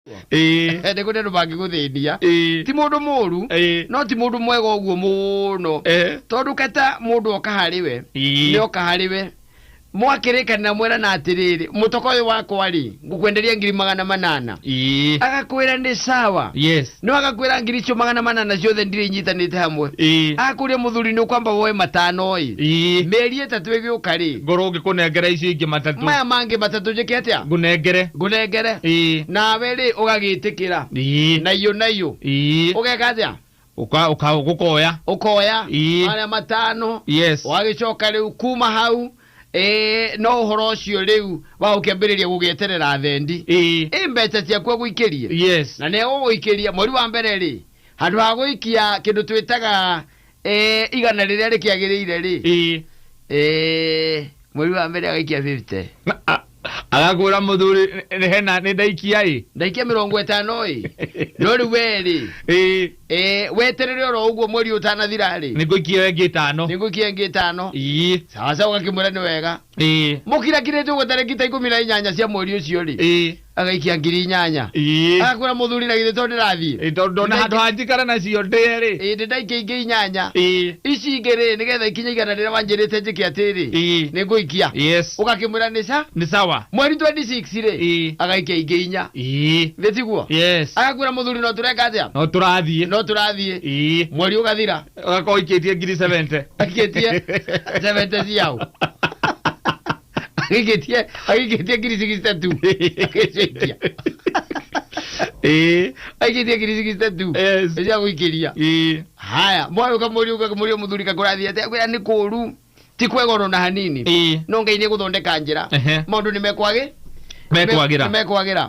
ĩĩ nĩ kũrĩ andũ mangĩgũthĩnia ĩĩ ti mũndũ mũru ĩĩ no ti mũndũ mwega ũguo mũno eh tondũ kata mũndũ oka harĩ we ĩĩ nĩ oka harĩ we mwakĩrĩkanĩra mwerana atĩrĩrĩ mũtoka ũyũ wakwa rĩ ngũkwenderia ngiri magana manana ĩĩ agakwĩra nĩ sawa yes no agakwĩra ngiri icio magana manana ciothe ndirĩ inyitanĩte hamwe ĩĩ akũria mũthuri nĩ ũkwamba woe matano ĩ ĩĩ mĩeri ĩtatũ ĩgĩũka rĩ Ngorwo ngĩkũnengera icio ingĩ matatũ. maya mangĩ matatũ njĩke atĩa Ngũnengere. ngũnengere Ĩĩ. nawe rĩ ũgagĩtĩkĩra Ĩĩ. na iyo na iyo Ĩĩ. ũgeka atĩa Ũka- ũka- Ũkoya. ũkoya Ĩĩ. marĩa matano Yes. wagĩcoka rĩu kuma hau eh, no ũhoro ũcio rĩu wa ũkĩambĩrĩria gũgĩeterera thendi Ĩĩ. ĩ mbeca ciaku agũikĩrie Yes. na nĩ egũgũikĩria mweri wa mbere rĩ handũ ha gũikia kĩndũ twĩtaga Eh, igana rĩrĩa rĩkĩagĩrĩire-rĩ ĩĩ eh, mweri wa mbere agaikia 50 Na, a- agakwĩra mũthuri nĩ hena nĩ ndaikia ĩ ndaikia mĩrongo ĩtano-ĩ no rĩu wee-rĩ ĩĩ eh, weterere oro ũguo mweri ũtanathira-rĩ nĩ ngũikia we ngĩ tano nĩ ngũikia ĩngĩ ĩtano ĩĩ sawasawa ũgakĩmwĩra nĩ wega ĩĩ mũkirakirĩte ũguo tarĩki ta ikũmi na inyanya cia mweri ũcio-rĩ ĩĩ agaikia ngiri inyanya Ii. akwĩra mũthuri na githĩ to ndĩrathiĩ Ĩ, tondũ ndona handũ ha njikara nacio ndĩe rĩ ĩndĩ ndaikia ingĩ inyanya Ii. ici ingĩ rĩ nĩgetha ikinye igana rĩrĩa wanjĩrĩte njĩke atĩrĩ Ii. nĩ ngũikia yes ũgakĩmwĩra nĩ ca nĩ sawa mweri 26 rĩ Ii. agaikia ingĩ inya Ii. thĩ tiguo yes agakwĩra mũthuri no tũreka atĩa no tũrathiĩ no tũrathiĩ Ii. mweri ũgathira ũgakorwo ikĩtie ngiri 70 Aikĩtie 70 ciao. agĩgĩtia agĩgĩtia ngiri six tatu agĩcenjia Eh, agĩgĩtia ngiri six tatu Yes. cia gũikĩria eh, haya mwaĩ ũkamũria ũkamũria mũthuri kakũrathi atĩ akwĩra nĩ kũũru ti kwega ona na hanini eh, no ngai nĩ gũthondeka njĩra Ehe. maũndũ nĩ mekwagĩ mekwagĩra nĩ mekwagĩra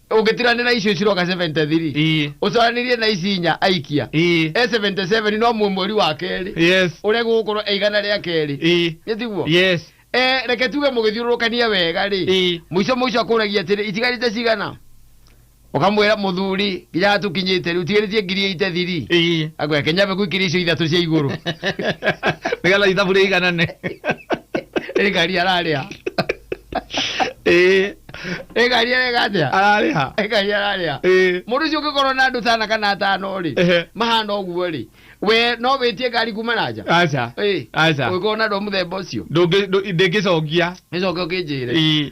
ũngĩtirania na icio ciroka 73 Ii. ũcaranirie na ici inya aikia Ii. e 77 no muo mweri wa kerĩ Yes. ũrĩa gũgũkorwo e igana rĩa kerĩ Ii. nĩ tiguo Yes. Eh, reke tuge mũgĩthiũrũrũkania wega rĩ Ii. mũico mũico akũragia atĩrĩ itigarĩte cigana ũkamwĩra mũthuri nginya tũkinyĩte rĩu tigarĩtie ngiri ĩite thiri Ii. agwä kenya mbegå ikiri icio ithatå cia igå rå Nĩgetha ithabu rĩiganane. ä ngari ararä a ĩĩ ĩgaria ĩgathĩa ararĩha ĩgaria ararĩa ĩĩ mũndũ ũcio ũngĩkorwo na andũ tana kana atano rĩ Ehe. mahana ũguo rĩ we no wĩtie ngari kuma na nja aca Ĩĩ. aca ũngĩkorwo na andũ a mũthemba ũcio Ndũngĩ- ndũ- ndĩngĩcokia nĩcoke ũkĩnjĩre ĩĩ